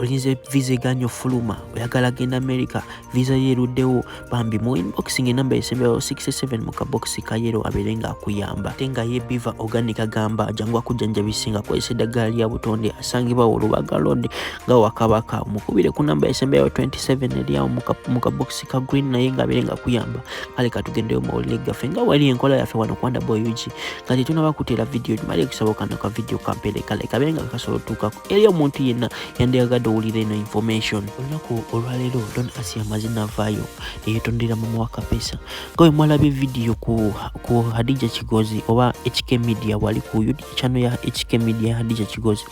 olinze visa eganya ofuluma oyagala genda america visa yeruddewo bambi mu inboxing enamba esemberawo 67 mu kabokisi ka yero abeere nga akuyamba ate nga ye biva organic agamba jangu akujjanjabise nga akozesa eddagala lya butonde asangibwa olubaga lod nga wakabaka mukubire ku namba esemberawo 27 eryawo mu kabokisi ka green naye nga abeere nga akuyamba kale katugendeyo mawulire gaffe nga wali enkola yaffe wano kwanda boyugi nga tetunaba kuteera vidiyo gimale ekusaba okanoka vidiyo kampere kale kabeere nga kasobola otuukako eri omuntu yenna yandiyagadde owulira eno information olunaku olwaleero don asi amazina avaayo neyetondera mama wa kapesa nga we mwalabye vidiyo ku, ku hadija kigozi oba hk media wali ku chano ya hk media hadija kigozi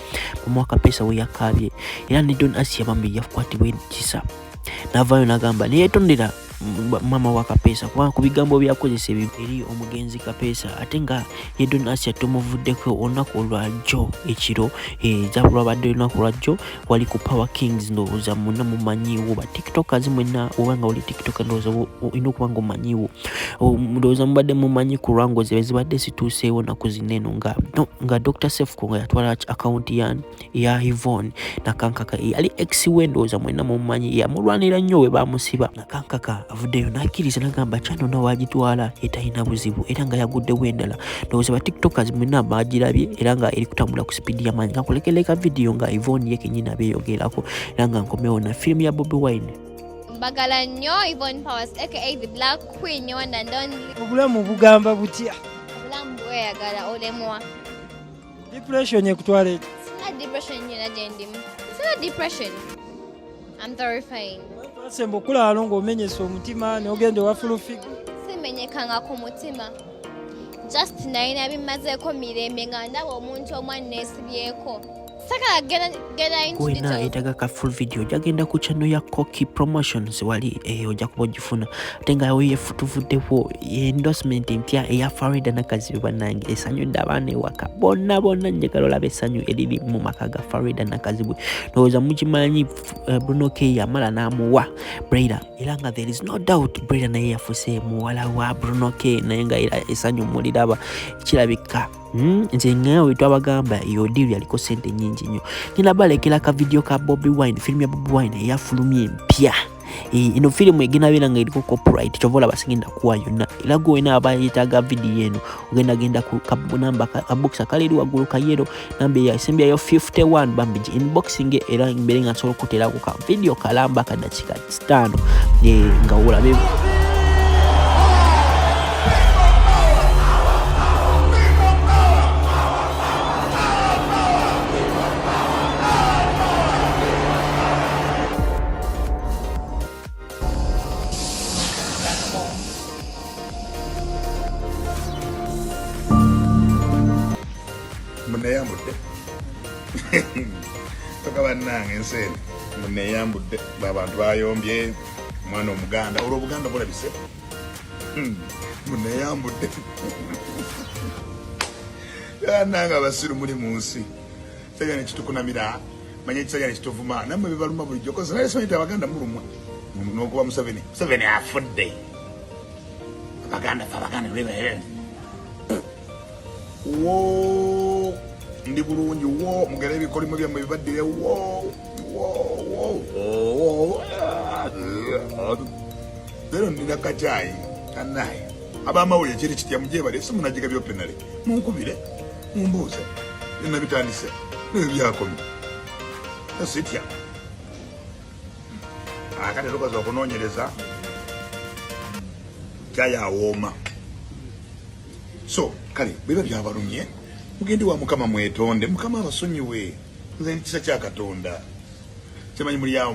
mama wa kapesa we yakaabye era ne don asi yabambi yakwatibwa ekisa navaayo nagamba neyetondera mama wa kapeesa kubanga ku bigambo byakozesa ebyo eri omugenzi kapeesa ate nga ye don asia tomuvuddeko olunaku olwajjo ekiro ezaba eh, lwabadde olunaku lwajjo wali ku power kings ndowooza muna mumanyiwo ba tiktokers mwena obanga oli tiktok ndowooza olina okuba nga omanyiwo oh, ndowooza mubadde mumanyi ku lwango zebe zibadde zituuseewo naku zineno nga dr sefko nga yatwala akawunti yani ya Yvonne nakankaka eyali ex we ndowooza mwenna mumumanyi yamulwanira nnyo we baamusiba nakankaka avuddeyo n'akkiriza nagamba kyano nawe agitwala etalina buzibu era nga yaguddewo endala ndowooza ba tiktokers mwenna baagirabye era nga eri kutambula ku sipiidi yamaanyi kakulekereka vidiyo nga Yvonne ye kenyini abeeyogerako era nga nkomewo na firimu ya Bobi Wine mbagala nnyo Yvonne Powers aka the black queen one and only obulamu bugamba butya obulamu bweyagala olemwa Depression ekutwala eki? Sina depression nyina gyendimu. Sina depression. I'm terrifying. Sembo okulaalo ng'omenyesa omutima n'ogenda ewa full figure. Simenyekanga ku mutima. Just nalina bimazeeko mirembe nga ndaba omuntu omu anneesibyeko. Sakala genda kwena yetaga ka full video jagenda ku chano ya coki promotions wali eyo eh, oja kuba ogifuna ate nga weyefutuvuddewo endorsement empya eya farida nakazibe banange esanyudde abaana ewaka bonna bonna njagala olaba essanyu eriri mu maka ga farida nakazibwe ndowooza mukimanyi eh, bruno k yamala n'amuwa braida era nga there is no doubt braida naye yafuse muwala wa bruno k naye nga era essanyu muliraba kirabika Hmm, nze ngewe twabagamba eyo diiru yaliko sente nyingi nnyo ngenda balekera ka vidiyo ka bobi wine firimu ya bobi wine eyafulumya empya ino firimu egenda beera nga eriko copyright kyova olaba sigenda kuwa yonna era gwe wena aba yetaaga vidiyo eno ogenda genda ku namba kabokisa kale eri waggulu kayero namba eyasembyayo 51 bambigi inboxing era mbeere nga nsobola okuteeraku ka vidiyo kalamba kadakika sitaano eh, nga olabe muneyambudde toka bannange ensi eno muneyambudde abantu bayombye omwana omuganda olwo obuganda bulabise hmm, muneyambudde nange abasiru muli mu nsi kisajja nekitukunamira manya ekisajja nekituvuma namwe bibaluma bulijjo kozi naye simanyi ti abaganda mulumwa nokuba museveni museveni afudde abaganda fe abaganda wo ndi bulungi wo mugere ebikolimo byammwe bibaddire wo wo wo wo lero nina kacayi kanaye abamawulire kiri kitya mujebale si munajiga byopenale munkubire mumbuuze byonna bitandise nebyo byakomye esitya akati tukoze okunonyereza cayi awooma so kale biba byabalumye mugende wa mukama mwetonde mukama abasonyiwe nze kisa kya katonda kyemanyi muli awo